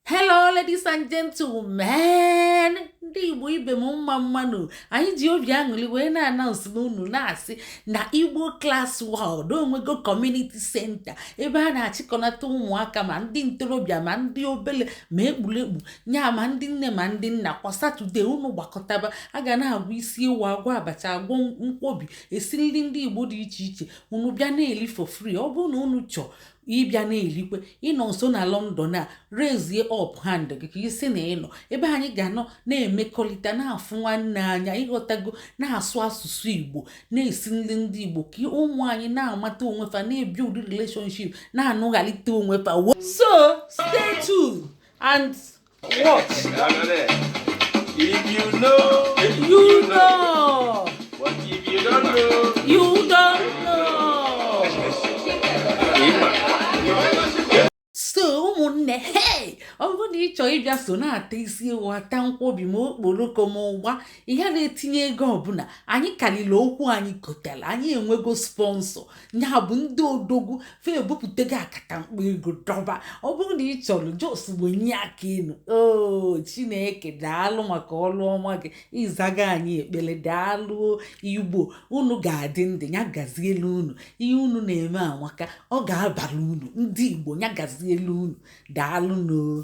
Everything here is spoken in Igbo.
hello ladies and gentlemen ndị igbo ibe m mma mma nụ anyị ji obi aṅụli wee na-announce n'unu na-asị na igbo class world onwego community center ebe a na-achịkọnata ụmụaka ma ndị ntorobịa ma ndị obele ma ekpurekpu nya ma ndị nne ma ndị nna kwa satọde unu gbakọtaba a ga na-agwa isi ewu agwa abacha agwọ nkwobi esi nri ndị igbo dị iche iche unu bịa na-eli for free ọ bụrụ na unu chọọ ịbịa na-elikwe ị nọ nso na London a raise up hand gị ka ị sị na ị nọ ebe anyị ga-anọ na-emekọrịta na-afụ nwanne anya ị ghọtago na-asụ asụsụ Igbo na-esi nri ndị Igbo ka ụmụ anyị na-amata onwe fa na-ebi ụdị relationship na-anụghalite onwe fa so stay tuned and watch. If you know, you know. But if you don't know, you don't know. so ụmụnne hey ọ bụrụ na ị chọọ ịbịa so na-ata isi ewu ata nkwobi ma okporoko ma ụgba ghara etinye ego ọbụla anyị karịrị okwu anyị kotara anyị enwego sponsor ya bụ ndị odogwu fa ebupụtago akatamkpo ego dọba ọ bụrụ na ị chọrọ just wenye aka enu oo chineke daalụ maka ọrụ ọma gị ị zago anyị ekpere daalụ igbo unu ga-adị ndụ ya gazielu unu ihe unu na-eme amaka ọ ga-abara unu ndị igbo ya gazielu unu daalụ nụ oo